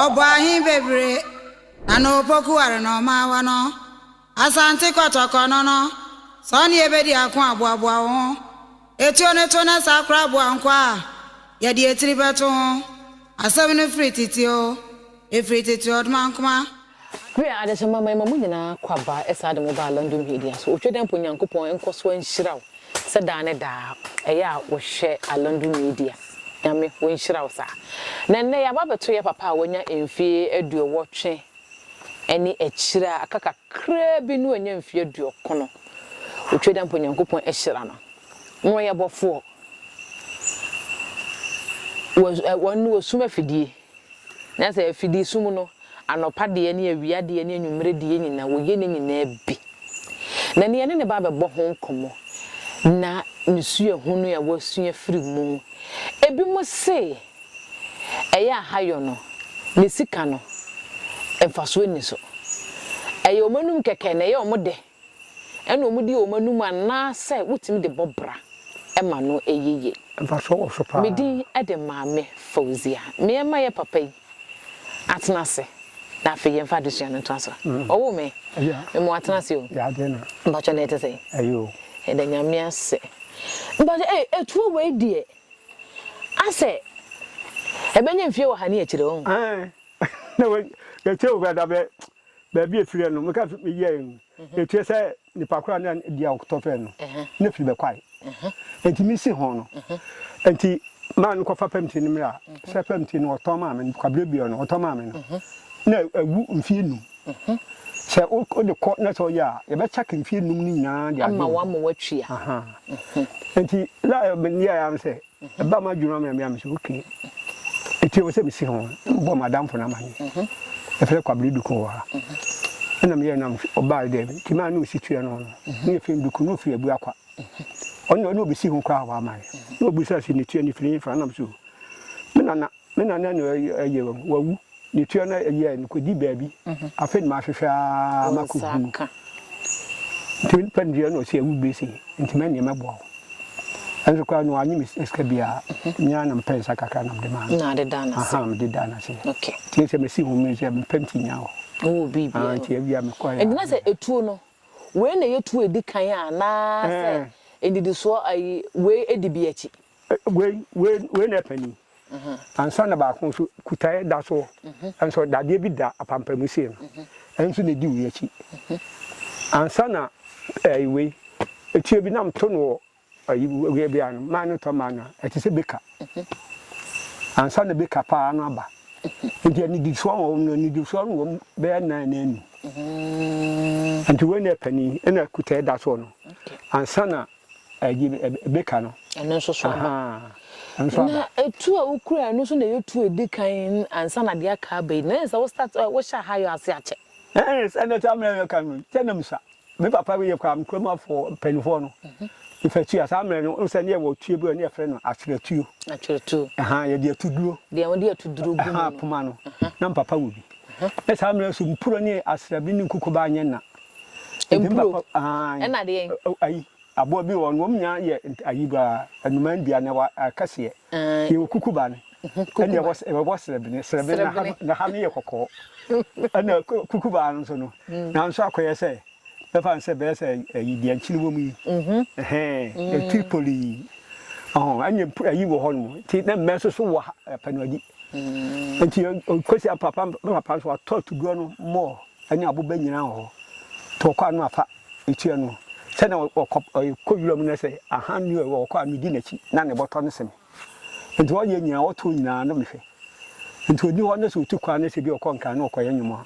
Ɔbɔ ahe bebree na na opoku ware na ɔma awa no. Asante Kɔtɔkɔ no no, sɛ ɔne yɛ bɛdi ako a, boaboa wo ho. Etuo no to na saa koraa boa nkoa a yɛde etiri bɛto ho. Asɛm no firi tete oo. Efiri tete ɔdmankoma. Wia adesemma ma yɛma mo nyinaa kwa ba ɛsɛ ade mo baa London Media so otwa dɛ mpo Nyankopɔn nkɔ so nhyira wo sɛ daa ne daa ɛyɛ a wo hwɛ a London Media Nyame wo nhyira wo saa na nnɛ yɛaba abɛto yɛ papa a wanya mfie aduowɔtwe ɛne akyire a aka kakraa bi no anya mfie aduokono otwa dɛ mpo Nyankopɔn ahyira no na ɔyɛ bɔfoɔ wɔ ɛɛ wɔn no wɔ sum afidie. Na sɛ afidi sum no, anɔpa deɛ ne awia deɛ ne anwumerɛ deɛ nyina wɔyɛ ne nyinaa bi. Na nea ne ne ba bɛbɔ ho nkɔmmɔ na ne suahunu a wasua firi mu. Ebinom se ɛyɛ ahayɔ no, ne sika no, mfasoɔ nni so. Ɛyɛ wɔn anom kɛkɛ na ɛyɛ wɔn dɛ. ɛna wɔde wɔn anum anaasɛ wotumi de bɔ bra ma no yiye. Mfasoɔ wɔ so paa. Me din de Maame Fauzia. Me mma yɛ papa yi atena ase na afei yɛmfa adesua no ntoa so. Ɔwoo me? Me mo atena ase o. Mpakyɛ na ɛte sɛn? Ɛyɛ o. Yɛda Nyame ase. Mpakyɛ ei atuo wei deɛ asɛ ɛbɛnya mfie wɔ ha ne akyire o. Ɛɛ na wei yɛkyɛ o koraa da bɛ baabi a efiri no, meka sɛ meyɛe no, ekyerɛ sɛ nipa koro a na di a ɔkotɔ fɛ no, ne firi bɛkwae. Enti misi ho no, enti maa no kɔfa fam ti no mmerɛ a, sɛ fam ti no ɔtɔn maa me no, kwabrɛ biara no ɔtɔn maa me no, na awu mfeɛ num. Sɛ wode kɔ na sɛ ɔyɛ a, yɛbɛkyɛke mfeɛ num no nyinaa de agye wo. Ama wɔama woatua. Enti la meyɛɛ ara ne sɛ, Ɛbaa m'adwenem amena me a, mise okay, enti ɛwɔ sɛ mesi ho, na mebɔɔ m'adamfo no amanneɛ. Yɛfrɛ no Kwabena Duku wɔ ha. Ɛna meyɛɛ no a, ɔbaeɛ dɛ, enti maa ne ɔsi tuaa no no, ne yɛ Finn Duku, na ɔfiri Abuakwa. Ɔno deɛ, ɔne ɔbɛsi ho koraa a, wamma me. Na ɔbisaa sɛ, ne tuaa no firi hefa? Ɛna mise oh, me nana, Me nana no ɛyɛ wɔn, wawu. Ne tua no ɛyɛ no kɔdi baabi. Afei na mahwehwɛ ara makɔhunu. Nti me nipa no deɛ na ɔsi awu bɛ sei, nti mɛ neɛ mɛboa wo. Ɛnso koraa no wanyɛ me sika biara, me ara na mepɛ nsa kakra na mede maa no. Na ade daa no ase. Aha, mede daa no ase. Okay. Nti sɛ mesi ho mmiri sɛ mepɛ nti nya hɔ. Wowɔ biribi a. Ah, nti awia mekɔɛ a. Nti na sɛ etuo no, wei na ɛyɛ tuo a ɛdi kan a anaasɛ nnidisoɔ ayi wei di bi akyi? Wei wei wei na ɛpɛ ni. Ansa na baako nso kutaeɛ da soɔ. Nso dadeɛ bi da apampamu sei no. Ɛno nso na ɛdi wei akyi. Ansa na ɛɛ wei etuo bi nam to no wɔ ayi wei bi ano maa no tɔ maa no a ɛte sɛ beka. Ansa na beka paa no aba. Nti anidisoɔ wɔ wɔn no anidisoɔ no wɔm bɛyɛ nan na anum. Nti wei na ɛpɛ ni ɛna kutaeɛ da soɔ no. Ansa na Ɛyɛ edi kan no. Ɛno nso so aba. Ɛno nso aba. Na tu a wokura ɛno nso na ɛyɛ tu a edi kan ansa na deɛ aka aba yi. Na ɛyɛ sɛ wo start wo hyɛ aha yɛ ase akyɛ. Ɛɛ sɛnea ɛte amena yɛ kan no kyɛ na misa. Me papa yɛ kura me kurom afoɔ mpanimfoɔ no. Efa tua saa mmerɛ no nso ne yɛ wɔ tuo bi a ne yɛ frɛ no atwerɛ tuo. Atwerɛ tuo. Ɛhaa yɛ de atu duro. Deɛ wɔn de atu duro gu mu. Ɛhaa poma no. Na me papa wɔ bi. Na saa mmerɛ nso mpuro ne asrabi ne nkukubaa nyɛ na. Mpuro ɛna adeɛ yi. Ayi aboa bi wɔ hɔ no wɔn nyinaa yɛ ayi ba nnuman dua na ɛwɔ akɛseɛ. Yɛ wɔ kukuba no. Ɛna ɛwɔ ɛwɔ srɛbene srɛbene na ha na ha no yɛ kɔkɔɔ. Ɛna kukuba no nso no nanso akɔyɛ sɛ bɛfa no sɛ bɛyɛ sɛ ayi deɛ nkyene wɔ mu yi. Ɛhɛn ɛti poli yi. Ɔhɔn ɛna mpu ayi wɔ hɔ nom nti na mmɛ nso so wɔ ha pɛnuadi. Nti kɔsi papa papa nso watɔ tuguo no mɔɔ. ne aboba nyinaa wɔ hɔ, to ɔkwaa no a, fa tua no. Sɛnea ɔkɔ, ɔkɔ wuram no sɛ, ahan ne ɛwɔ ɔkɔ a, medi n'akyi, na ne bɔtɔ no se me. Enti ɔyɛ nyinaa, ɔtow nyinaa na mehwɛ. Enti odi hɔ na sɛ otu kwan na sɛ bi ɔkɔ Nkran na ɔkɔyɛ nnwom a,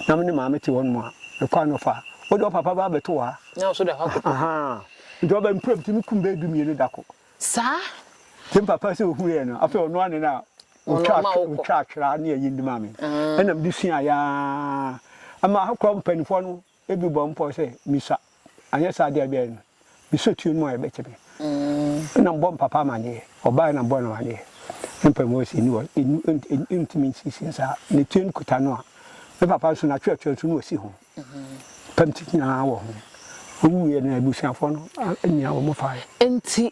na me ne Maame te hɔnom a, mekɔ a na ɔfa. Wo deɛ, wo papa bɛba abɛto wo ha. Na nso da hɔ akoto. Ahaa. Enti ɔba mpremptu no kum bɛyɛ du-mmienu da koro. Saa? Enti me papa sɛ ohuu yɛn no, afei ɔnoa ne na Wɔtwaa twera ne ayindi maa me, ɛnna mede suaeɛ ara. Ɛma ahokora mpanimfoɔ no bi bɔɔ me pɔw sɛ mensua, anyɛ saa deɛ ɛbɛyɛ no, me sotie no mu ayɛ bɛkyɛ me. Ɛnna mebɔɔ me papa amanneɛ, ɔbaeɛ na mebɔɔ no amanneɛ. Ne mpaebɔ wɔ sɛ, Nni hɔ, nni, ɛntumi nsiesie saa. Ne tiri no kuta no a, me papa nso n'atwerɛtwerɛ nso na ɔsi ho. Pɛm tete nyinaa wɔ ho. Ɔwuiɛ no, abusuafoɔ no nyaa wɔn faeɛ. Enti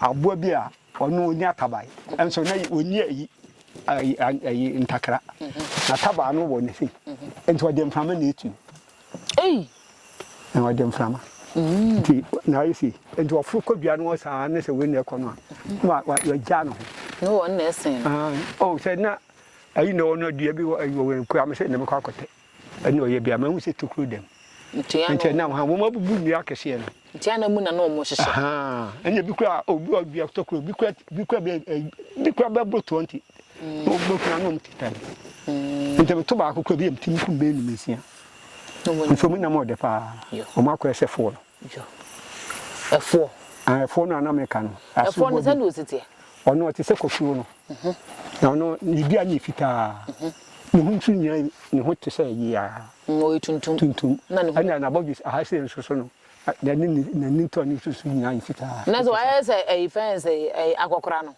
Aboa bi a ɔno ɔnni ataban nso na ɔnni ayi ayi ayi ntakra na tabaa no wɔ ne fi nti ɔde mframa na etu ei na ɔde mframa mm. nti na ayɛ si nti ɔforo kɔ dua no saa ne sɛ wei na ɛkɔ no a na wagya no ho ne wɔn na ɛsen no ah, oh, sɛ na ayi na ɔno dua bi wɔ ayi wɔ wɛn kura me sɛ na mekɔ akɔtɛ Ɛna ɔyɛ bia mahu sɛ tokuro dɛm. Nti ɛna ɔha wɔn abubu nnua akɛseɛ no. Nti ana mu na na wɔn hyehyɛ. Ahaa ɛna ebi kura obi wɔ dua tokuro bi kura bi kura bɛ ɛ bi kura bɛ boro twenty. Na wɔn bɛ kura na wɔn teta no. Nti mi to baako kura bi yɛ mi ti mi kum bɛyɛ nnum nsia. Nti wɔn nam ɔdɛ paa. Wɔn akɔyɛ sɛ four no. Ɛfoɔ. Ah ɛfoɔ no a na meka no. Ɛfoɔ no sɛdeɛ ɔsi teɛ. Ɔno ɔte sɛ kɔsuo no. Na ɔno ne dua no yɛ fitaa. Ne ho nso nyinaa ne ho te sɛ yeaa. Na ɔyɛ tuntum. Tuntum. Na ne ho. Ɛna n'abɔdwe aha sei nso so no n'ani ne n'ani ntɔn ne nso so nyinaa yɛ fitaa. Na sɛ wayɛ sɛ ɛyi fɛn sɛ ɛyi akɔkora no.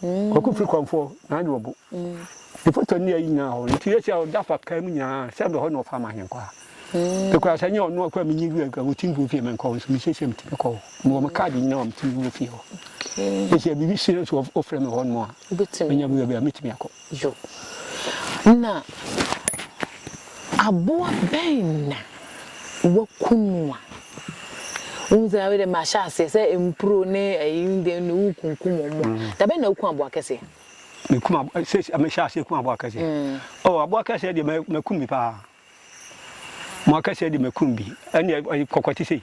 Kwaku firi kɔmfoɔ na agye ɔbo. Ne foto ne ayi nyinaa hɔ. Nti yɛsi a ɔda afa kaa mu nyinaa sɛ bɛhɔ na ɔfa ma ahenkwaa. Ɛkura sɛ nyɛ ɔno akura menye wura akura wɔtim guo fie menkɔ hɔ nso mesiesie metumi kɔ hɔ. Mewɔ me kaade nyinaa a metumi wura fie hɔ. Ɛsi a biribi si nso ɔfrɛ me hɔ nom a menya wura bi a metumi akɔ. Yo. Na aboa bɛn na wɔaku no a wohu sɛ afei deɛ mahyɛ aseɛ sɛ mpuro ne ayi ne deɛ ne wokunkum wɔn a, da bɛn na woku aboa kɛseɛ? Mekum aboa eh, sɛ mehyɛ aseɛ ku aboa kɛseɛ. Mm. Oh, aboa kɛseɛ deɛ makum bi paa. Aboa kɛseɛ deɛ makum bi. Ɛnneɛ kɔkɔte sei.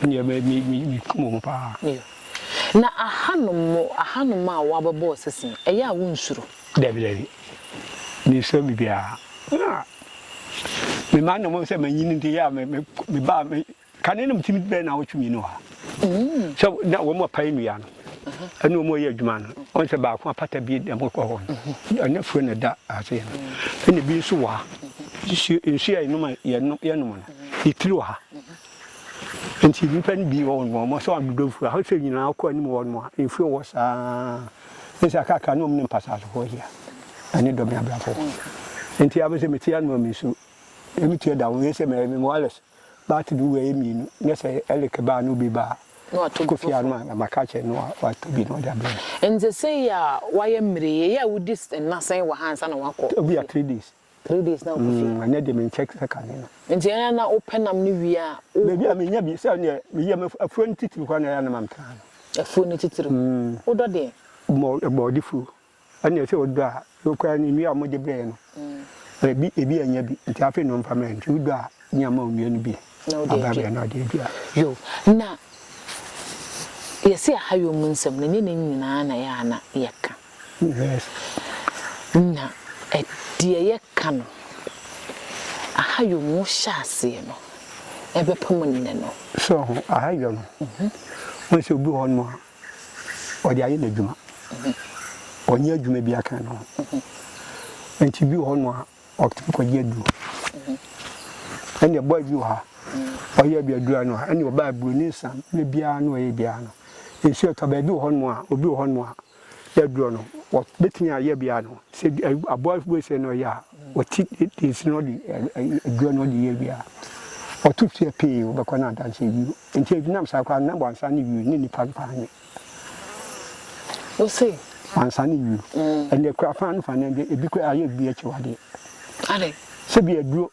Ɛnneɛ me me me mekum wɔn paa. Yea. Na ahanom mo ahanom a wɔabɛbɔ ɔsese no, ɛyɛ a wonsuro? Dabi, dabi. Mensuro biribiara. Na me mma no mmom sɛ manyin nti yɛ a me me mebaa me kane no metumi bɛyɛ nnawɔtwe mmienu wɔ ha. Sɛ na wɔn apae nnua no. ɛne wɔn yɛ adwuma no wɔn sɛ baako apata bi dɛm kɔ hɔ ɛna furo na ɛda ase no ɛna bi nso wɔ ha nsuo nsuo a yɛnom a yɛnom yɛnom no yɛtiri wɔ ha nti nipa no bi wɔ wɔn wɔn sɛ wɔn dodo furo ahosɛ nyinaa kɔ anim wɔ wɔn a nsuo wɔ saa nsa kakra ne wɔn ne mpasasofoɔ yia ɛne dɔm abrafo nti abɛsɛ meti anum a mesu ɛmi tia da wɔn yɛ sɛ mɛ mɛ wɔalɛs Baate bi wura yɛ mmienu na sɛ Eric ba a na obi ba Kofi ano a na maka akyerɛ no na watɔ bi na ɔde abrɛ me. Nti sei a wayɛ mmere yi, ɛyɛ a wodi nna sɛn wɔ ha ansa na wakɔ Kofi? Ebia three days. Three days na wokɔ fie? Mm, ɛnɛ deɛ menkyɛ sɛ kane no. Nti ɛyɛ a na wopɛ nam no wie a wokɔ? Baabi a menya bi, sɛ neɛ me yam afuo no titiriw koraa na ɛyɛ a na mamtra no. Afuo no titiriw? Mm. Wodɔ deɛn? Bɔ, bɔɔde fuo. Ɛnneɛ sɛ wodɔ a, wei koraa no nnua a wɔde brɛeɛ no, ebi ebi annya bi, nti afei na ɔmfa mmrɛ. Nti wodɔ a, ne ama wo nnua no bi aba abɛn na ɔde adua. Yo, na yɛse yɛha yo mu nsɛm no, ɛnyɛ ne nyinaa na ɛyɛ a na yɛka. Yes. Na deɛ yɛka no, aha yo mu wohyɛ aseɛ no, ɛbɛpem nnɛ no. So ho, aha yo no, wohu sɛ obi wɔ hɔnom a, ɔde ayɛ n'adwuma. Ɔnyɛ adwuma bi aka ne ho. Nti bi wɔ hɔ no a, ɔtumi kɔgye aduro. Ɛnna ɛbɔ bi wɔ ha, ɔyɛ aduadura no a, ɛnna ɔba aburo ne nsa ne biara no ɔyɛ biara no. Nsuo ɛtɔ baabi wɔ hɔ no a, obi wɔ hɔ no a, yɛ aduro no, wɔbɛtumi ayɛ biara no. Sɛ aboa wesɛ na ɔyɛ a, ɔti nsi na ɔde aduro no ɔde yɛ biara. Ɔto fie pee, wobɛkɔ no adanseɛ bio. Enti ɛdenam saa kwan no na wansane wieɛ ne nnipa no paa nyɛ. Wose. Wansane wieɛ. Ɛnna kura faa no faa no ɛnde ebi kura ayɛ bi akyiwadeɛ. Ade. Sɛ bi aduro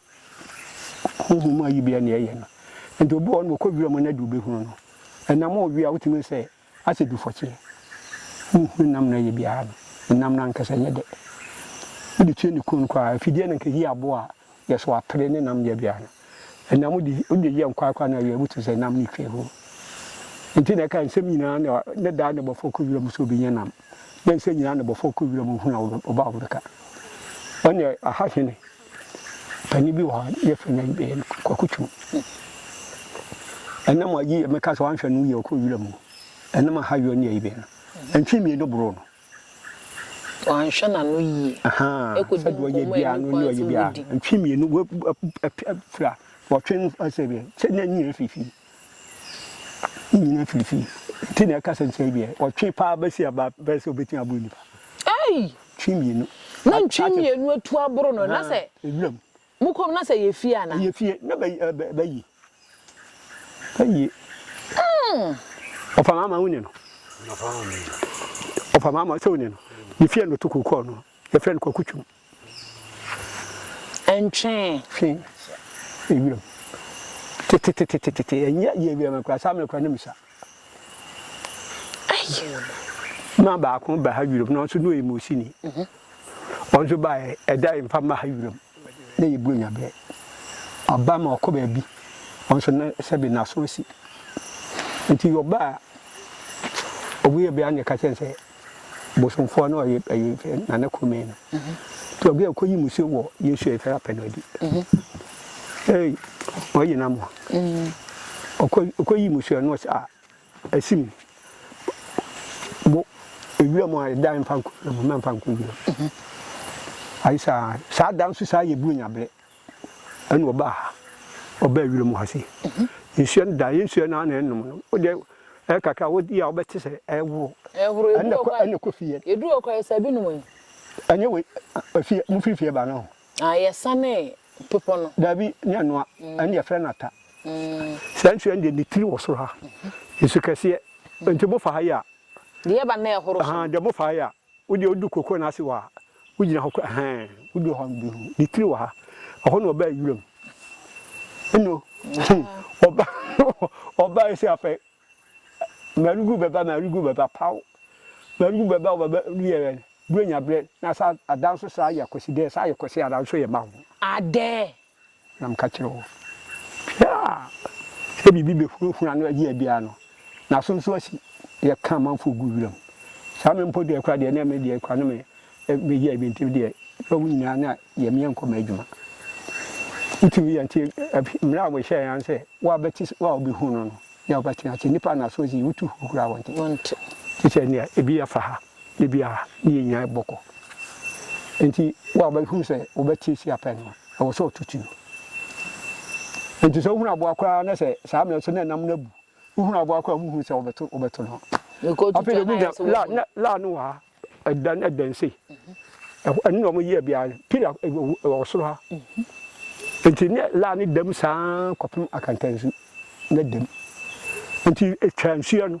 huhu mu ayi bi ɛnna ɛyɛ no. Nti obi wɔ hɔ no ɔkɔ wira mu na de wobɛhunu no. Ɛnam ɔwia wotumi sɛ Asɛ du fɔkyeɛ honhunu nam no ɛyɛ biara no ɛnam no ankasa ɛnyɛ dɛ wode kyerɛ ne kunu no koraa afideɛ no nka ɛyi aboɔ a yɛso apere ne nam yɛ biara no ɛnam wode wode yɛ nkwaa koraa na awia wotumi sɛ nam no twa hɔ nti na ɛka nsɛm nyinaa na ne daa ne bɔfoɔ kɔ wiram sɛ obɛnya nam na nsɛm nyinaa ne bɔfoɔ kɔ wiram ohunu a ɔba a wɔbɛka ɔne ahahwene Panin bi wɔ hɔ a, ne yɛfrɛ no Kwaku Twum. Ɛnam a yie, meka sɛ wanhwɛ no yie, ɔkɔɔ wiram o, ɛnam a ha yɔ ne ayi bɛn no, mfe mmienu boroo no. Wanhwɛ n'ano yie. Ahaa, sɛdeɛ ɔyɛ biara no ne ɔyɛ biara no, mfe mmienu, wafira, wɔtwe no, sɛ deɛ, sɛ na nyina fifii. Ne nyinaa firi fie nti na ɛka sɛ nkyerɛ deɛ ɔtwe paa bɛsi aba bɛyɛ sɛ ɔbɛtumi aboro nipa. Ei! Twe mmienu. Na ntwe mmienu atu aboro no na sɛ. Ewuram. Mo kɔm na sɛ ɛyɛ fie anaa? Ɛyɛ fie na bɛ bɛ bɛyie. Bɛyie. Mm. Ɔfa maama wo ne no. Ɔfa maama sɛ wo ne no. Ne fie na ɔto kɔɔ no. Yɛfrɛ no kwaku twom. Ntwee. Twe ewuram. Tetetetetete ɛnyɛ yɛ ewuram no koraa saa mmerɛ koraa na mu sa. Ma baako ba ha wuram na ɔnso na ɔyɛ Mosini. Ɔnso baeɛ ɛda yɛ mfa mma ha wuram na yɛ buro nya berɛ. Ɔba ma ɔkɔ baabi ɔnso na sɛbe n'aso asi. Nti ɔbaa ɔwuiɛ bia na yɛka kyerɛ no sɛ. bosomfoɔ no ɔye ɛyi mfɛ na ne kome no to ɔgɛ ɔkɔ yi musuo wɔ yesu ɛfɛ apɛ no adi ei ɔye na mo ɔkɔ ɔkɔ yi musuo no ɔsɛ a ɛsim bo ewira mu a ɛda mfa nko mu mfa nko wira ayi saa saa da nso saa yɛ buru nyabrɛ Ɛna ɔbaa ha, ɔbaa wira mu ha sei. Nsuo no da, ɛyɛ nsuo no ara na ɛnom no. Wo deɛ ɛyɛ kakra a wodi a wobɛte sɛ ɛreworo. Ɛhoro, ɛdu hɔ koraa. Ɛna kɔ fie yɛ. Ɛdu hɔ koraa, ɛsɛ bi nom yi. Ɛnyɛ wei, fie, mo firi fie ba no ho. Ah, yɛsanee bepɔ no. Daabi, ne ɛnoa, ɛne yɛfrɛ no ata. Saa nsuo no deɛ ne tiri wɔ soro ha. Nsu kɛseɛ. Nti mofa ha yɛ a. Deɛ ɛba no na ɛhoro so. Ahaa, deɛ mofa ha yɛ a. Wo deɛ wodu kokoo no ase wɔ ha, wogyina hɔ koraa ɛhɛn, wodu hɔ a wobɛhu no, ne tiri wɔ ha, ɛhɔ na ɔbaa wuram no, ɔbaae sɛ afei Marugu bɛba, Marugu bɛba, paw, Marugu bɛba, ɔbɛba wiɛ yɛ Buronya berɛ na saa adan nso saa yɛ Kwasi dɛɛ, saa yɛ Kwasi adan nso yɛ ma ho. Adɛɛ, Na meka kyerɛ wo, dua a sɛ biribi bɛhurahura no ayi biara no, n'aso nso asi. Yɛka amanfoɔ gu wiram. Saa me mpo deɛ koraa deɛ, na me deɛ koraa na me bɛyɛ bi nti deɛ, na wo nyinaa na yɛ meɛ nkɔ m'adwuma. Wotumi yɛ nti, mmerɛ a wɔhyɛɛ yɛn sɛ, wo a bɛte, wo a wobɛhunu no no, ne a wobɛtena ase. Nnipa a n'aso asi, wotu hurahura a wɔnte. Te sɛ nea ebi afa ha. Da biara ne yɛn nyinaa bɔ kɔ. Enti wo a wobɛhunu sɛ wobɛtiatia pɛ no, ɛwɔ sɛ ɔto tuo. Enti sɛ wohunu aboa koraa na sɛ saa mmerɛ so na ɛnam no abu, wohunu aboa koraa a wohunu sɛ wobɛto wobɛto no. Afei deɛ wonya la na la no wɔ ha ɛdan ɛdan sei ɛhɔ ɛno na wɔyɛ biara pila ɛwɔ soro ha nti ne la ne dam saa kɔpem akantansu ne dam nti etwa nsuo no.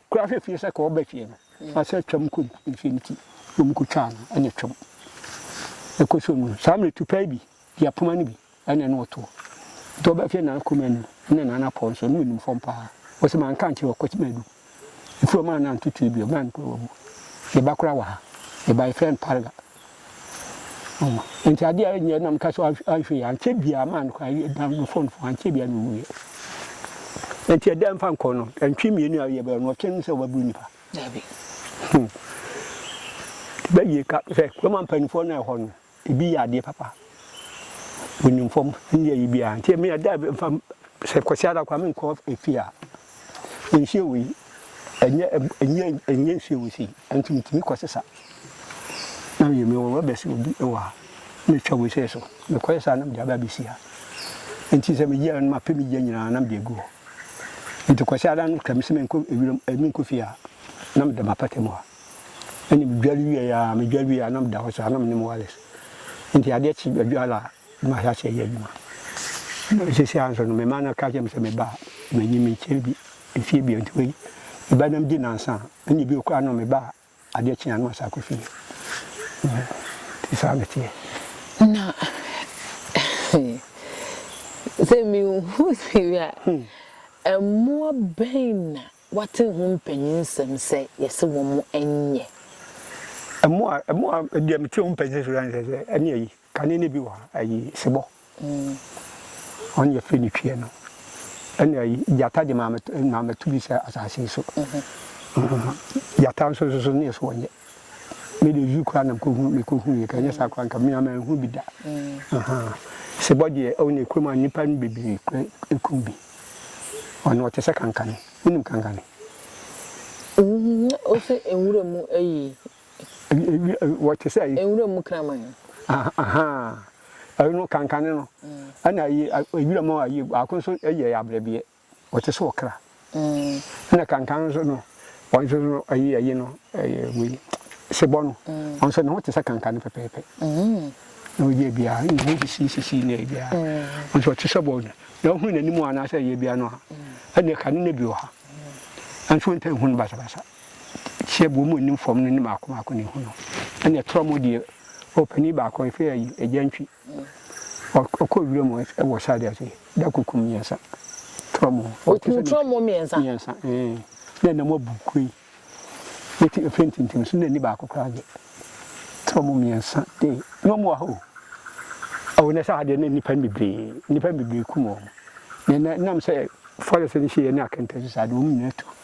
Kura hwɛ fie sɛ ka ɔba fie no na sɛ twam kɔ ne fie no ti na ɔmo kɔ twa no ɛne twam ɛkɔ so no saa mmerɛ tupa yi bi di apoma no bi ɛne ɛne ɔtoɔ nti ɔba fie na akoma anu ɛne na anapɔ nso ɛne ɔnim fam paa ɔsɛ ma nka nkyerɛ ɔkɔ kyima adu ɛfiri ɔma na ntotoe bi ɔma no kura wabu yɛba kora wɔ ha yɛba yɛfrɛ no parga Enti adeɛ a ɛnyɛ na meka sɛ anhwɛ yie ankyɛ biara maa no kwan dan no phone fo ankyɛ biara na ɔwuiɛ nti ɛdɛ mfa nkɔ no ɛntwe mmienu a yɛbɛyɛ no ɔtwe no sɛ wɔbɛboro nnipa hmm. bɛyie ka sɛ kuroma mpanimfoɔ no ɛhɔ no ebi yɛ adeɛ papa wɔnim fam ne yɛyi biara nti ɛmi ɛdɛ mfa sɛ kwasi ara kwa menkɔ efie a Nhwiren wei, ɛnyɛ ɛb ɛnyɛ ɛnyɛ nhwiren wei sei, ɛno nti metumi kɔsesa na meyɛ. Mewɔ rɔba sei obi wɔ ha, na metwa wei sei so, mekɔsesa a na mede aba abɛsi ha. Enti sɛ megye a na mapɛ me gya nyinaa na mede agu hɔ. Enti Kwasi Adan no ka me sɛ menkɔ wiram ɛ menkɔ fie a, na meda m'apata mu ha. Ɛnna medware wieeɛ ara, medware wieeɛ ara na meda hɔ saa, na me ne me wireless. Enti adeɛ kye Adwoa laa, na mahyɛ aseɛ yɛ adwuma. Na seesei ara nso no, me mma no ka kyerɛ me sɛ, Me ba, manyin menkyɛre bi mfeɛ biara, nti wei ɛbɛyɛ dɛn di nnansa a, ɛnna bio koraa no, me ba a, adeɛ kye a na masan akɔ fie. Nti saa na ɛteɛ. Na sɛ mehu sini a, mmoa bɛn na woate ho mpanyinsɛm sɛ yɛse wɔnyɛ? Mmoa a deɛ mete ho mpanyinsɛm ne sɛ, ɛne ayi, Kane no bi wɔ ha, ayi, sebɔ, ɔno yɛfrɛ no twiɛ no, ɛna ayi, gyata de maame to, maame to bi sɛ asase yi so. Gyata nso nso so ne yɛ so wɔnyɛ. Me de zoo koraa nam kɔhu, mekɔhu yɛ, ka ɛnyɛ saa koraa nka me manhu bi da. Sebɔ deɛ, ɔno yɛ kurom a nnipa no bebree kura ɛkum bi. Ɔno ɔte sɛ kankane. Wonim kankane? Wohwɛ nwura mu ayi, Wɔte sɛ. Nwura mu kraman. Ahaa, ɛno kankane no. Ɛna ayi, nwura mu ayi, baako nso yɛ abrɛbeɛ. Wɔte sɛ ɔkra. Ɛna kankane nso no, wɔn nso no, ayi ayi no, ɛyɛ wei, sebɔ no. Wɔn nso ne ho te sɛ kankane pɛpɛɛpɛ. Na ɔyɛ biara, ne ho sisi sisi na ɛyɛ biara. Wɔn nso wɔte sɛ bɔ no. Na ɔhunu n'anim anaasɛ ɛyɛ biara no a, ɛna kane no bi wɔ ha. Nanso wɔntumi nhunu no basabasa. Hyiabuo mu anim fam no ne mmaako mmaako na ehu no. Ɛna ɛtorɔ mu deɛ ɔpanin baako a yɛfrɛ ayi agya ntwi. Ɔkɔ wura mu wɔ side ase da kukum mmiɛnsa. Torɔ mu. Ɔkum torɔ mu mmiɛnsa. Mmiɛnsa ɛɛ na ɛnam abu kuro yi. Eti efe ntintim so na ni baako koraa deɛ. Torɔ mu mmiɛnsa ee na wɔn wɔ ha o. Ɛwɔ na sɛ ha deɛ na nnipa bebree nnipa bebree kum wɔn. Na nam sɛ forest no hyɛ yɛ ne akɛntɛnso saa de wɔn nyinaa tu.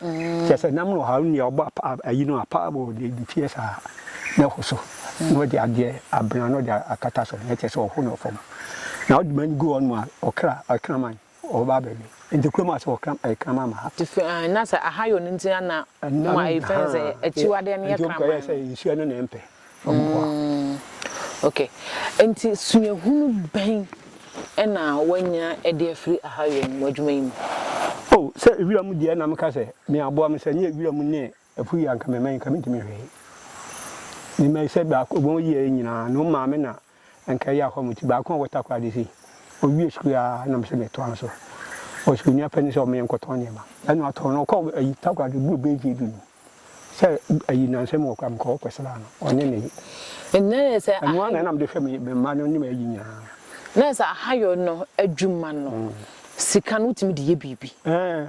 Kyerɛ sɛ, nam no haw nea ɔbɔ apa ayi no apa wɔ ne ne fie saa, na ɛho so, na ɔde adeɛ abena na ɔde akata so, na ɛkyerɛ sɛ ɔho no fam. Na ɔde ma no gu hɔnom a, ɔkra, ɔkraman, ɔbɛba abɛwe. Nti kurom ase hɔ kram, ɛyɛ kraman ma ha. Nti na sɛ ahayɔ no nti na na wɔma ɛyɛ fɛn sɛ akyiwadeɛ no yɛ kraman no. Nti ɔkɔyɛɛ sɛ nsuo no na ɛmpɛ. nkoa. Mm, ok. Enti suahunu bɛn na woanya de afiri Ahaiwem w'adwuma yi mu? Oh, sɛ wira mu deɛ na meka sɛ me aboa me, sɛ nyɛ wira mu ne ɛpo yi a nka mɛma yi nka mentumi hwee. Mema yi sɛ baako, wɔn yi yɛ nyinaa, no maame na Anka ɛyɛ a hɔ mo ti baako a wɔtaa kɔ ade sei. Ɔwie sukuu ara na me nso metoa no so. Ɔwɔ sukuuni afɛ no sɛ ɔma yɛnkɔtɔn nneɛma. Ɛnna ɔtɔn no, ɔkɔɔ ayi Takoradi boro bɛyɛ mfeɛ du no. Sɛ ayi nnansa mu wɔ koraa mekɔɔ hɔ kɔsraa no, ɔne me ye. Ɛnna ɛyɛ sɛ Ɛno ara na na mede hwɛ me me mma no ne m'ayi nyinaa. Na ɛyɛ sɛ Ahayɔ no adwuma no, sika no wotumi de yɛ biribi. Ɛɛ,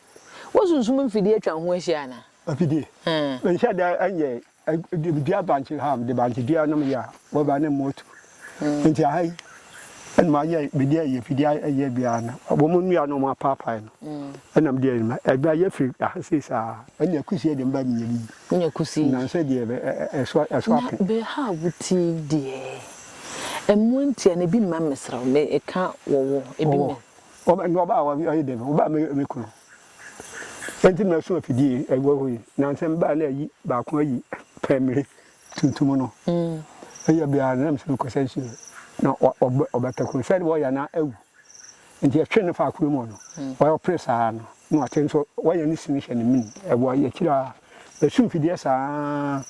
Wo sunsum mfidie atwa wo ho ahyia anaa? Afidie? Me nhyɛ da nyɛ dua bankye ha de bankye dua nom yɛ a wɔba ne moto nti aha yi ɛna mayɛ mede ayɛ afidie ayɛ biara no wɔn nnua no wɔn apaapae no ɛna mede ayɛ ma ɛba yɛ firi aha sei saa ɛna kusie de mba menyɛ bi wonya kusie nanso deɛ ɛso ɛso ape na bɛ ha wuti deɛ ɛmoa ntia na ebi mma mesrɛ wo meka wɔwɔ ebi mma Wɔba no wɔba a wɔyɛ dɛn? Wɔba a me me kunu nti na ɛso afidie ɛwɔ hɔ yi na nsɛ mbaa na ayi baako ayi pɛmire tuntum no ɛyɛ biara na msɛ mekɔsɛ nsuo na ɔbɛtɛko sɛ de wɔyɛ na awu nti ɛtwe no fa akoro mu no wɔyɛ ɔpere saa no na wate nso wɔyɛ ne sini hyɛ ne mini ɛwɔ yɛkyiri a ɛsu mfidie saa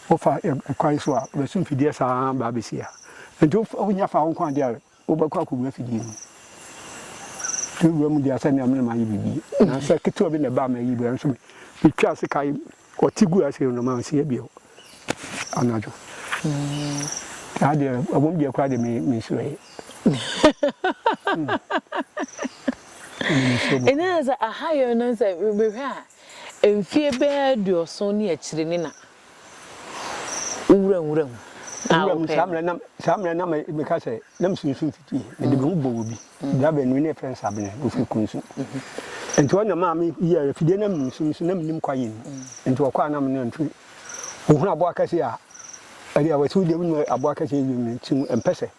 wofa ɛkwan so a ɛsu mfidie saa baa bɛsi a nti wonya fa wo nkwa adeɛ Wobɛkɔ akɔgu afidie mu de wura mu de asɛ nea mene mayɛ biribi nansɛ ketewa bi na ɛbaa mayi bra nso metwa ase kae ɔte gu ase no na manseɛ bio anadwo saa deɛ ɛwom deɛ koraa deɛ mensuroɛ ɛne sɛ aha yɛ no sɛ mehwɛ a mfie bɛɛ aduɔson ne akyire ne na wo wura nwura mu a Wura mu, wopɛɛ saa no. mmerɛ na, saa mmerɛ na me, meka sɛ, na mesunsun fiti, mede me ho bɔɔ obi, bra baanu bi na yɛfrɛ no Sabine, ɔfiri Kunsu. Nti ɔno na ɛmaa me yɛɛ afidie na menim sum so, na menim kwaeɛ mu. Nti ɔkɔ a na me ne no tu. Ɔhunu aboa kɛseɛ a, ɛdeɛ wɔ sɛ wodeɛ wonim aboa kɛseɛ wiem no, nti ɔmpɛ sɛ.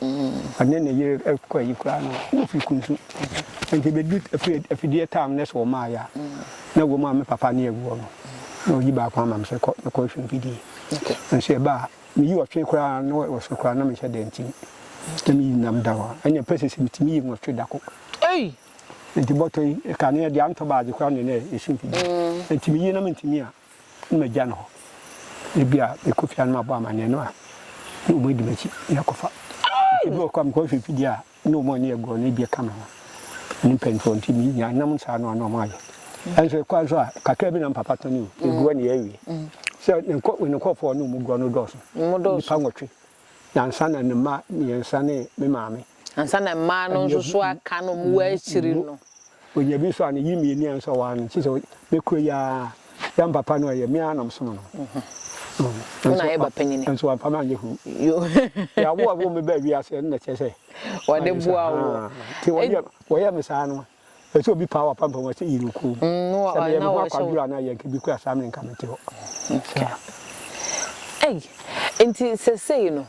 Ɔne ne yere rekɔ ayi koraa no, na ofi kuntu. Enti ebedu afidie tam no so wɔ Maayi a na ɛwom a me papa ne awu hɔ no, na oyi baako ama me sɛ, Kɔ na kɔhwehwɛ mfidie. Nanso ɛba a, miyi ɔtwe koraa no, na wɔ soro koraa no na menhyɛ da nti, na miyi nam da hɔ a, ɛnna ɛmpɛ sɛ mitumi yi nwɔtwe da koro. Enti bɔtɔ yi, kane deɛ antɔ baagye koraa na na ɛso mfidie. Enti miyi na mintumi a, na magya no hɔ. Ebia mekɔ fie a na mabɔ amanneɛ no a, na wɔadi m'akyi na ɛkɔfa. Ebi wɔ hɔ koraa mekɔhwehwɛ mfidie a na wɔn a wɔne yɛ goro no ebi ka me ho. Ne mpanimfoɔ nti menya nam saa no a na wɔayɛ. Nanso ɛkɔa nso a, kakra bi na me papa tɔne o, ɛgu hɔ na yɛawie. Sɛ ne nkurɔfoɔ a ɔne wɔn goro no dɔɔso, nnipa nwɔtwe. na ansa na ne mma mmiɛnsa ne me maame. Ansa na mmaa no nso so aka no ɔmo wɔ akyiri no. Onya bi nso a ne yi mmieni a nso a ɔwaa no nti sɛ me koro yi ara yɛn papa no ɛyɛ me ara na ɔsom no. Wo na yɛ ba panyini. Nso wamfa me anyɛ huu. Yɛ awo a wɔn mo bɛ wiase ɛno na ɛkyɛ sɛ. Wɔde boa wo. Ti wɔyɛ wɔyɛ me saa no. Ɛsɛ sɛ obi paa w'apampam hɔ sɛ yere okuo mu. Sɛ meyɛ me ho akwadworɔ anaa yɛn ka bi koraa saa mmerɛ nka mete hɔ. Saa. Ei, nti sesei no,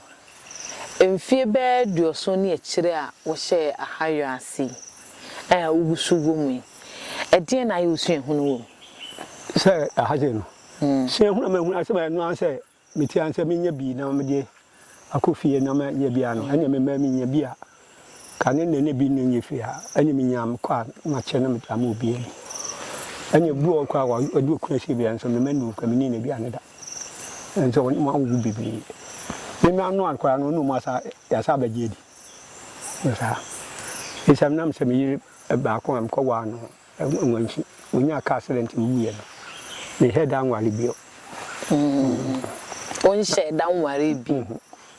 mfie bɛyɛ aduɔson ne akyire a wohyɛɛ Ahayɔ ase yi, a wogu so wɔ mu yi, ɛdeɛn na ayɛ wo suahunu wɔ mu? Sɛ, aha sei no, suahunu a mahunu ara sɛ, ɛno ara ne sɛ, Mete ara sɛ menya bi na mede akɔ fie na mayɛ bi a no ɛneɛ memaa menya bi a ka ne nnɛ na bi no nyɛ fie a ɛneɛ menya mekɔ a makyɛ na mede ama obiara bi. Ɛneɛ bi wɔ hɔ koraa a ɔde okunu asie bi a nso mema nnuo koraa menni n'aduane da nso ɔne mu awowo bebree. Me mma no a koraa no ɔne ɔmu asa yɛasa abɛgye adi. Ɛwɔ saa. Esiane menam sɛ me yere baako a mekɔwaa no Wankyi. Onyaa car accident wuiɛ no, ne head anware bio. Wo nhyɛɛ da nwaree bi?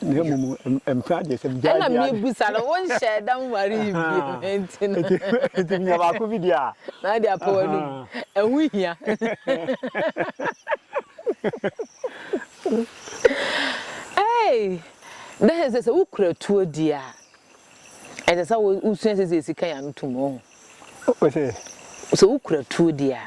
Na mmom mpena deɛ sɛ megyae biara. Ɛna mebisa no, wo nhyɛɛ da nwaree bi? Nti no. Nti menya baako bi deɛ a. Na wode apa w'anom. Ɛho hia. Hey! Dɛ sɛ sɛ wokura tuo di a, ɛsɛ sɛ wosua sɛdeɛ yɛsi ka yɛn ano tom, woahu. Ɔse. Sɛ wokura tuo di a,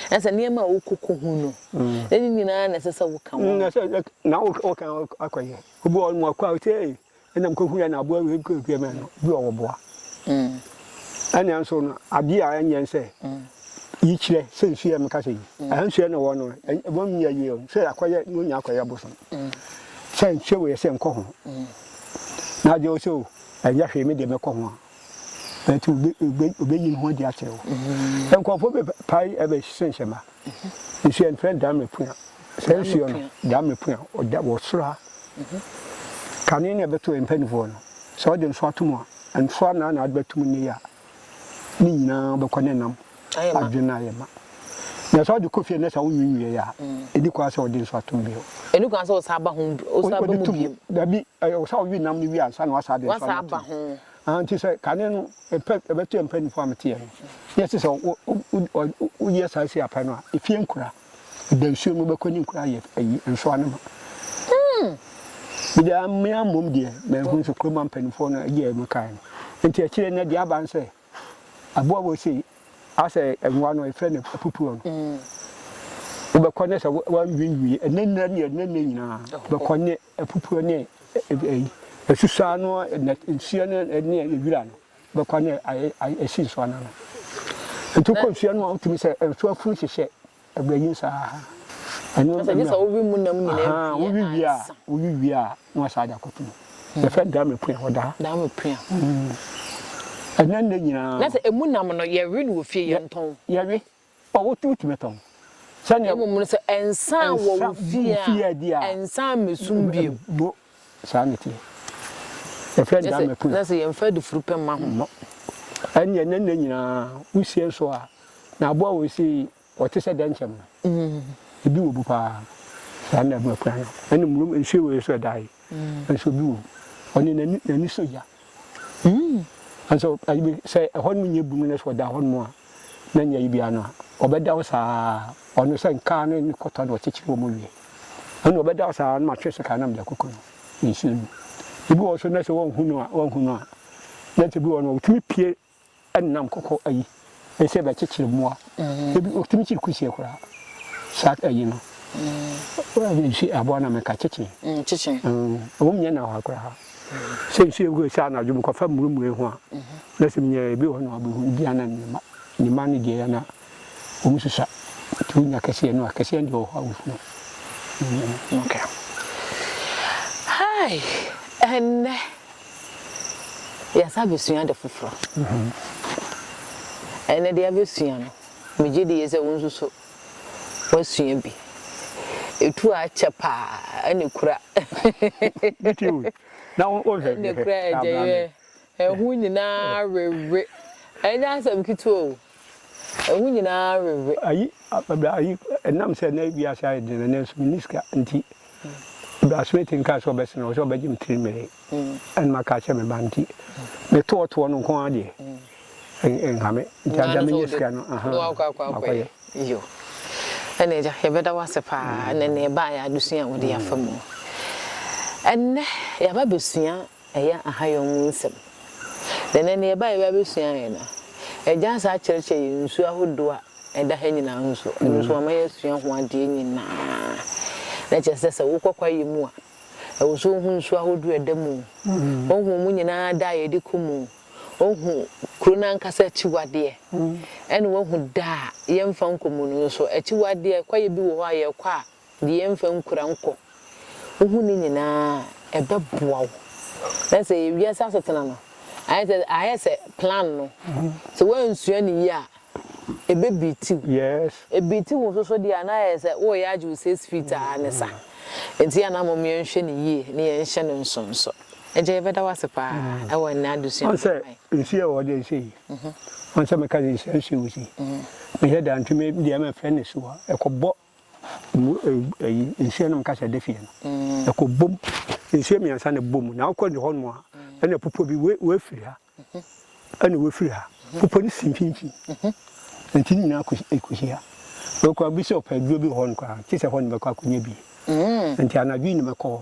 na sɛ nneɛma a wokɔkɔ hu no, na ne nyinaa na ɛsɛ sɛ woka ho. Na sɛ na woka ho akɔ yɛ. Obi wɔ hɔ nom ɔkɔ a ɔte ei ɛna mekɔhu yɛ na aboa wei kɔ pia mɛ no bi wɔ wɔ boa. Ɛna nso no adeɛ a ɛnyɛ nsɛ yi kyerɛ sɛ nsu yɛ meka sɛ yi. Ɛha nsu yɛ na wɔ no wɔn mu yɛ yie sɛ akɔyɛ na onya akɔyɛ bosom. Sɛ nsu wɔ yɛ sɛ nkɔ ho. Na agye wo sɛ o ɛnyɛ hwee me deɛ mɛkɔ ho a. but obe obe obeyi ne ho adi akyerɛ wo mm. nkurɔfoɔ bɛ pae ɛbɛ hyɛ nhyɛ ma mm-hmm. nsuo yɛn fɛn dame pua sɛ nsuo no dame pua ɔda wɔ soro ha mm-hmm. kane na ɛbɛto yɛn mpanimfoɔ no sɛ ɔde nso ato mu a nso a na na ade bɛto mu ne yɛ a ne nyinaa bɛkɔ ne nam adwene no ayɛ ma. Na sɛ wode kɔ fie no na sɛ wonwiinwiiɛ a, ɛni kwan sɛ wode nso atom bio. Ɛni kwan sɛ wosan ba ho, wosan ba mu bio. Dabi, ɛyɛ wo sɛ wowe nam no wie ansa na woasan de nso ama tom. Aha, nti sɛ kane no mpɛ, ɛbɛto yɛn mpaninfoɔ a meteɛ no, na ɛsɛ sɛ wo, wo, wo, woyɛ saa si apɛ no a, efie nkura. Ɛda nsuo mu, wobɛkɔ ne nkura ayɛ ayi, nsoa no ma. Hmm. Mede amea mmom deɛ, manhu nso kurom ampaninfoɔ no agye a ɛmekae no. Nti akyire no deɛ aba ne sɛ, aboa wei sei asɛ nwa no efrɛ no apupuo no wobɛkɔ ne sɛ wanwiinwii ɛnɛ nnɛ ne ɛnɛ nnɛ nyinaa bɛkɔ ne apupuo ne ɛsusaa no nsuo no ne ɛwira no bɛkɔ ne ɛsi nsuo no ano nti kɔ nsuo no a wotumi sɛ nsuo afunu hyehyɛ Ɛbrɛ nye saa aha. Ɛno ɛmɛ. Ɛsɛ sɛ wowi mu nam nyinaa wie ansa. Aha wowi wie a wowi wie a na wasa adi akoto mu. Yɛfrɛ no daame pua hɔ daa. Daame pua. Ɛnɛ nnɛ nyinaa. Na sɛ emu nam no yɛwe no wɔ fie yɛ ntɔn. Yɛwe ɔ wotu wotumi tɔn. Sɛnea. Mmom no sɛ ɛnsa wɔ wo fie a ɛnsa mmɛsum bio. Saa na ɛteɛ. Yɛfrɛ no Dame Pun. Na sɛ yɛmfa adufuru pɛ mma ho. Mmɔ. Ɛnneɛ na nna nyinaa wosie nso a, na aboa a wɔsi yi, ɔte sɛ dɛnkyɛm no. Ebi wɔ bu paa. Saa na ɛbɛpra no. Ɛne mmorɔm nsuo wei nso a ɛda ha yi nso bi wɔ mu. Ɔno n'ani sɔ gya. Yiw, nanso sɛ ɛhɔnom nyɛ bunu na sɛ ɔda hɔnom a na nyɛ ayi biara no a, ɔbɛda hɔ saa ara. Ɔno sɛ nkaa no ne kɔtɔ na ɔkyekyere wɔn wie no na ɔbɛda hɔ saa ara na matwe so kaa na mede akɔku no nsuo no mu. Ebi wɔ hɔ nso na sɛ wɔanhu no a, wɔanhu no a, na sɛ bi wɔ hɔ no wɔtumi pue Nam kɔkɔ ayi ne sɛ bɛkyekyere mmoa. Ebi otumi kyere kusie koraa. Saa ayi no nsu aboa na meka kyekye. Kyekye. Ɛwɔ mu nyɛ na hɔ koraa. Sɛ nsu egu sɛ anadwo mu kɔfa murumure ho a na sɛ minya ebi wɔ hɔ na ɔbɛhu ebi ana ne mma ne mma no deɛ na. Wɔn susua nti wonya kɛseɛ no a kɛseɛ no deɛ wɔ hɔ a wohunu. Okay. Hi, ɛnnɛ yɛasa abɛsua ade foforɔ. Ɛnnɛ deɛ abɛsua no, megye die sɛ wo nso so woasua bi. Ɛtu a akyɛ paa ɛna ɛkura. Ɛna ɛkura agya yɛ ɛho nyinaa wewe. Ɛnyɛ asɛm ketewa o. Ehu nyinaa rewe. Ayi, bra, ayi, ɛnam sɛ na wiase ayɛ den na nanso menni sika nti, bra Smith nkaa sɛ ɔbɛsene, ɔwɔ sɛ ɔbɛgye me tiri mee ɛna maka akyerɛ me ba nti, metoɔtoɔ no nko ara deɛ, ɛnha me. Nti agya menya sika no, aha, makɔyɛ. Yo. Ɛna agya, yɛbɛda wo ase paa, ɛna ɛnna yɛbaeɛ adesua a wode afa mu. Ɛnnɛ, yɛaba abɛsua ɛyɛ ahayɔ mu nsɛm. Na ɛnnɛ nea ɛbae biara besua yɛn. Na Agya asan akyerɛkyerɛ yɛn nsu ahodoɔ a ɛda ha nyinaa ho nso. Ɛno nso wama yɛasua ho adeɛ nyinaa. Na kyerɛ sɛ, sɛ wokɔ kwaeɛ mu a, ɛwɔ sɛ wohu nsu ahodoɔ a ɛda mu o, wohu wɔn nyinaa da a yɛde kɔ mu o, wohu kuro no ankasa akyiwadeɛ, ɛna woahu da a yɛmfa nkɔ mu no nso. Akyiwadeɛ, kwaeɛ bi wɔ hɔ a yɛkɔ a, De yɛn mfa nkura nkɔ. Wohu ne nyinaa a, ɛbɛboa wo. Na sɛ ɛyɛ wiase asetena no, ayɛ sɛ ayɛ sɛ plan no, sɛ woansua no yie a, ɛbɛbiiti wo. Yes. Ɛbiiti wo nso so deɛ a, na ayɛ sɛ woreyɛ agye wo six feet ara ne sa. Enti yɛn a na mmom yɛnhwɛ no yie na yɛnhyɛ no nsonso. Agya, yɛbɛda wo ase pa ara wɔ ɛnnɛ adesua no ho. Ma yɛn. Wohu sɛ nsuo a ɛwɔ hɔ deɛ sei. Wohu sɛ meka sɛ nsuo a ɛwɔ hɔ sei, mehwɛ a, deɛ antwe me deɛ mɛfrɛ no asuwa. Ɛkɔbɔ. Emu eyi nsuo nom kasa de fie no ɛkɔ bom nsuo mmiɛnsa na ɛbɔ mu na wokɔ de hɔnom a ɛna pupɔ bi wei wei firi ha ɛna wei firi ha pupɔ no si mfimfini nti ne nyinaa ɛkɔhyia wei kora bi sɛ ɔpɛ aduro bi wɔ hɔ no koraa kye sɛ hɔ no bɛkɔ akɔnya bi nti anadwo yi na mɛkɔ hɔ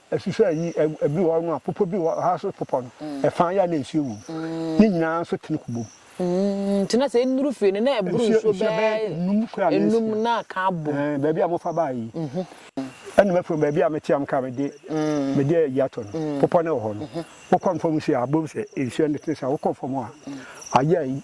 Ɛsusua ayi, Ɛbi wɔ hɔ nom a popɔ bi wɔ ha so popɔ no ɛfã yɛ a na nsuo wɔ mu. Ne nyinaa nso tene kɔ bom. Nti na sɛ ɛnuru fie no na ɛboro nsuo bɛɛ ɛnum na aka abom. Ɛɛ baabi a mo fa baa yi. Ɛna mɛfrɛ mo baabi a mete a mo kaa mede mede ayi ato no. Popɔ no wɔ hɔ no. Wokɔ nfam nsuo a abom sɛ nsuo no tene saa. Wokɔ nfam a ayɛ ayi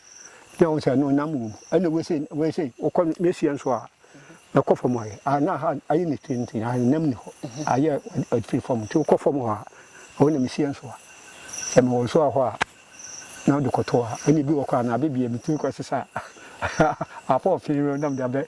na wɔn sɛ no nam wom ɛna wɔn sɛ wɔn sɛ wɔkɔ ne seɛ nso a ɛkɔ fam ayɛ a na ha ayɛ ne tiri nti na nam ni hɔ ayɛ ɛfiri fam nti wɔkɔ fam hɔ a wɔn nam seɛ nso a sɛ mewɔ nso a hɔ a na wɔde kɔto a ɛna ebi wɔ kɔ a na abɛbie me tiri kɔ sesa afɔ ɔfin no nam de abɛ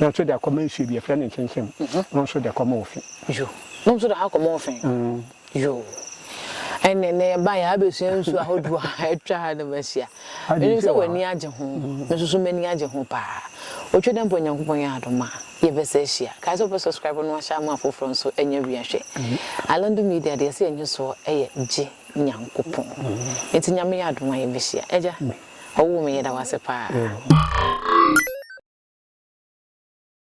No nso de akɔma nsuo bi, yɛfrɛ no nkyemkyem. No nso de kɔma ofi. Yo. No nso de ha kɔma ofi. Yo. Ɛnneɛ na yɛba yɛ abɛsua nsuo ahodoɔ a atwa ha nom ahyia. Menim sɛ w'ani agye ho. Me nso so m'ani agye ho paa. Otwa dɛ mpo a Nyankopɔn yɛ adom a, yɛbɛsa ahyia. Kae sɛ wopɛ subscribe no ahyɛ ama afoforɔ nso anya wia hwɛ. Alando Media deɛ yɛse yɛn nyosoɔ yɛ gye Nyankopɔn. Nti Nyame yɛ adom a yɛbɛhyia. Agya. Ɔwoo me yɛda wo ase paa.